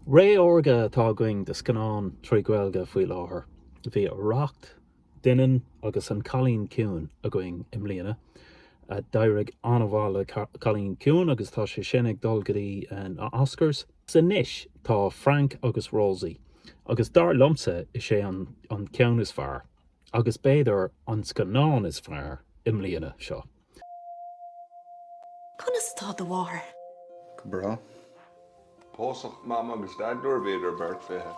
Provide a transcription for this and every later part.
Ré órga atá againn do scannáin trí Ghaeilge faoi láthair. Bhí Arracht, Doineann agus an Cailín Ciúin againn i mbliana. D'éirigh an-mhaith le Cailín Ciúin agus tá sé sin ag dul go dtí na Oscars. Anois tá Frank agus Rosie agus dar liomsa is é an ceann is fearr, agus b'fhéidir an scannán is fearr, i mbliana. Seo. Conas atá do mháthair? Go breá. Pósadh Mam agus Dad nuair a bhíodar beirt fiche.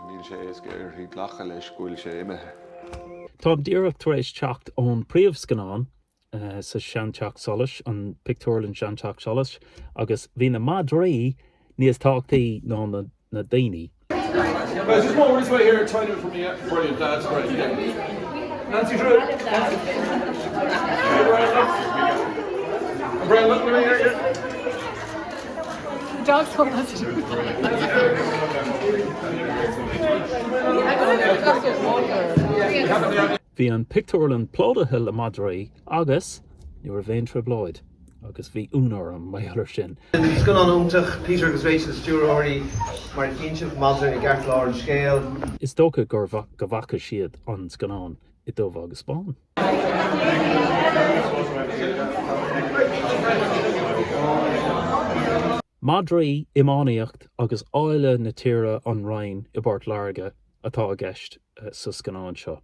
Níl sé éasca uirthi glacadh leis go bhfuil sé imithe. Táim díreach tar éis teacht ón príomhscannán sa Seanteach Solais, an pictiúrlann Seanteach Solais, agus bhí na madraí níos tábhachtaí ná na daoine. Bhí an pictiúrlann plódaithe le madraí agus ní raibh aon trioblóid, agus bhí ionadh orm mar gheall air sin. Scannán iontach, Peter agus Rachel stiúrthóirí, mar chinn siad madra i gceartlár an scéil. Is dócha go bhfaca siad an scannán i dtaobh, agus 'spáin. Madraí, iománaíocht agus áille na tíre An Rinn i bPort Láirge atá i gceist sa scannán seo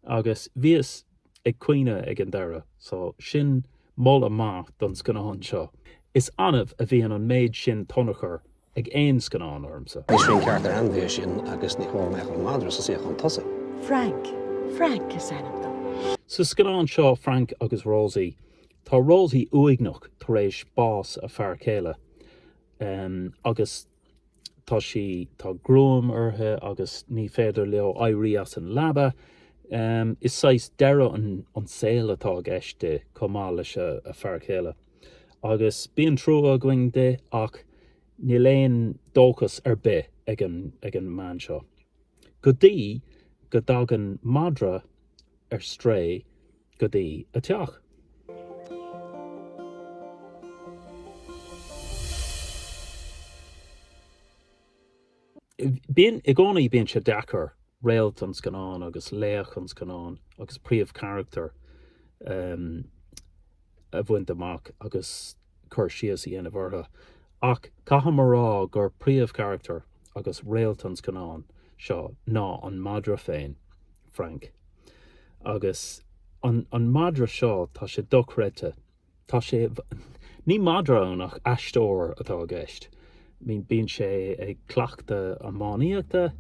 agus bhíos ag caoineadh ag an deireadh so sin moladh maith don scannán seo. Is annamh a bhíonn an méid sin tionchar ag aon scannán ormsa. Níl sin ceart ar ainmhí é sin agus ní cóir a bheith ag an madra sa suíochán tosaigh. Frank, Frank is ainm dó. Sa scannán seo Frank agus Rosie, Tá Rosie uaigneach tar éis bás a fear céile agus tá sí, tá gruaim uirthi agus ní féidir leo éirí as an leaba. Is saghas deireadh an saol atá i gceist di chomh maith leis a fear céile agus bíonn trua againn di ach níl aon dóchas ar bith ag an mbean seo go dtí go dtagann madra ar strae go dtí a teach. I gcónaí, bíonn sé deacair réalt an scannáin agus laoch an scannáin agus príomhcharachtar a bhaint amach agus. cur síos a dhéanamh orthu, ach caithfidh mé a rá gur príomhcharachtar agus réalt an scannáin seo ná an madra féin, Frank. Agus an an madra seo, tá sé dochreidte. Tá sé, ní madra é ach aisteoir atá i gceist. Bíonn sé ag cleachtadh iománaíochta,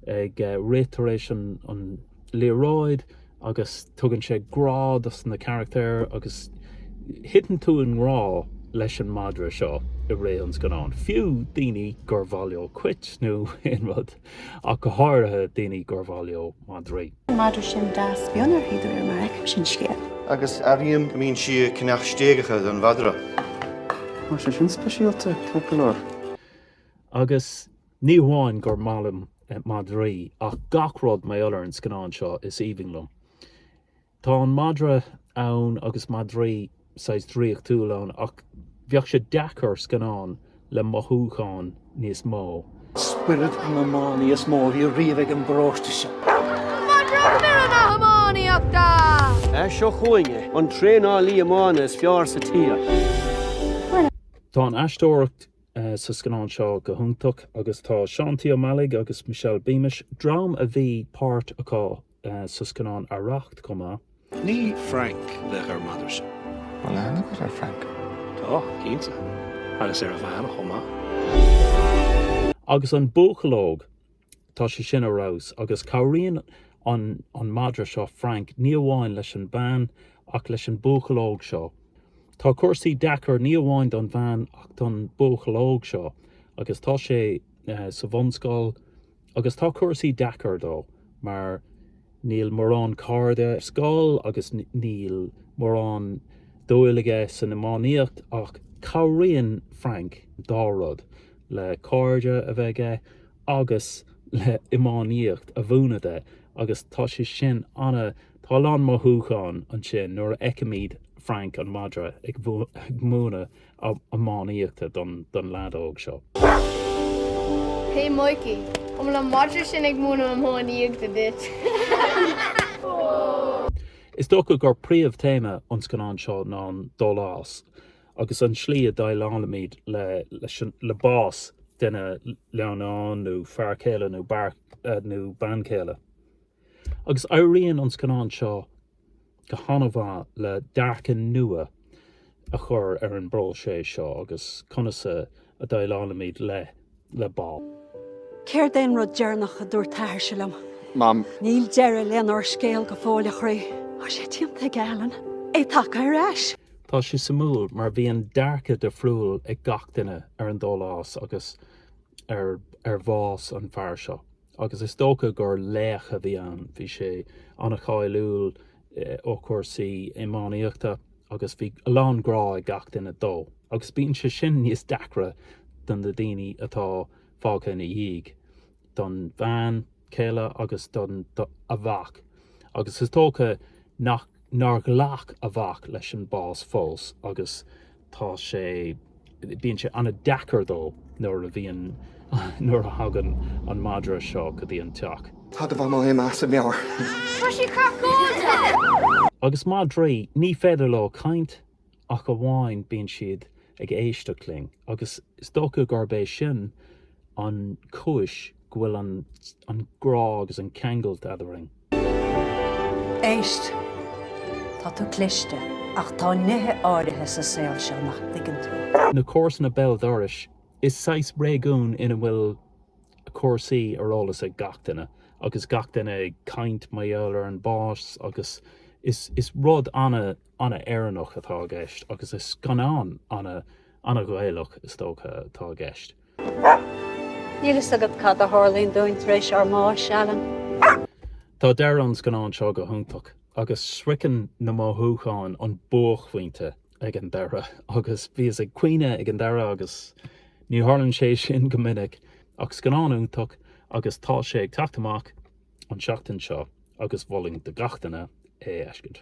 ag rith tar éis an liathróid agus tugann sé grá dos na carachtair agus thiteann tú i ngrá leis an madra seo i rith an scannáin, fiú daoine gur mhaith leo cait nó aon rud. ach go háirithe daoine gur mhaith leo madraí. Madra sin deas bionn uirthi, do réir mar a fheicimse an scéal. Agus airím go mbíonn sí ag ceannach stéigeacha don mhadra. Mar sé sin speisialta, ag go leor. Agus ní hamháin gur maith liom madraí, ach gach rud mar gheall ar an scannán seo is aoibhinn liom. Tá an madra ann agus madraí saghas draíochtúil ann ach bheadh sé deacair scannán le mothúcháin níos mó. Spiorad an iománaí is mó a bhí riamh ag an bparóiste seo. Madra Spiorad na hIománaíochta! Seo chugainn é, an traenálaí iomána is fearr sa tír. Tá an aisteoireacht sa scannán seo go hiontach agus tá Seán T. Ó Meallaigh agus Michelle Beamish, dream a bhí páirt acu sa scannán Arracht chomh maith. Ní Frank le dh'ar madra seo. Bhfuil aithne agat ar Frank. Tá, cinnte. Agus ar a bhean chomh maith. Agus an buachaill óg, tá sé sin ar fheabhas. Agus cabhraíonn an madra seo Frank ní amháin leis an bhean ach leis an buachaill óg seo. Tá cúrsaí deacair ní amháin don bhean ach don buachaill óg seo agus tá sé sa bhunscoil, Agus tá cúrsaí deacair dó mar níl mórán cairde ar scoil agus níl mórán dúil aige san iománaíocht ach cabhraíonn Frank dá rud le cairde a bheith aige agus le iománaíocht a mhúineadh de agus tá sé sin ana, tá a lán mothúchán ansin nuair a fheicimid Frank an madra ag múineadh iománaíochta don leaid óg seo. Hey Mikey, an bhfuil an madra sin ag múineadh iománaíochta duit? Is dócha gur príomh-théama an scannáin seo ná an dólás agus an slí a déileálaimid le bás duine, leannán nó fear céile nó bean chéile. Agus éiríonn an scannán seo go han-mhaith le dearcadh nua a chur ar an bpróiseas seo agus conas a dhéileálaimid le bás. Céard é an rud deireanach a dúirt t'athairse liom? Mam. Níl deireadh lenár scéal go fóill, a chroí. Tá sé déanta aige, Alan. É tagtha ar ais. Tá sé suimiúil mar bíonn dearcadh difriúil ag gach duine ar an dólás agus ar bhás an fear seo. Agus is dócha gur laoch a bhí ann, bhí sé an-cháiliúil ó chúrsaí iománaíochta agus bhí lán grá ag gach duine dó. Agus bíonn sé sin níos deacra do na daoine atá fágtha ina dhiaidh, don bean chéile agus don a mhac. Agus is dócha nach. nár ghlac a mhac leis an bás fós agus tá sé, bíonn sé an-deacair dó nuair a bhíonn, nuair a thagann an madra seo go dtí an teach. Tá do mhamaí imithe as a meabhair. Tá sí craiceáilte! Agus madraí, ní féidir leo caint. ach amháin bíonn siad ag éisteacht linn, agus is dócha gurb é sin an chúis go bhfuil an grá agus an ceangailt eadrainn. Éist! Tá tú cliste, ach tá nithe áirithe sa saol seo nach dtuigeann tú. Na comharsana béal dorais, is saghas réigiún ina bhfuil cúrsaí ar eolas ag gach duine, agus gach duine ag caint mar gheall ar an bás, agus is rud ana an-Éireannach atá i gceist agus is scannán an-Ghaelach, is dócha, atá i gceist. Níl fhios agat cad a tharlaíonn dúinn tar éis ár mbáis, Alan. Tá deireadh an scannáin seo go hiontach, agus sroicheann na mothúcháin an buaicphointe ag an deireadh, agus bhíos ag caoineadh ag an deireadh agus ní tharlaíonn sé sin go minic. Ach scannán iontach, agus tá sé ag teacht amach an seachtain seo agus mholfainn do gach duine é a fheiscint.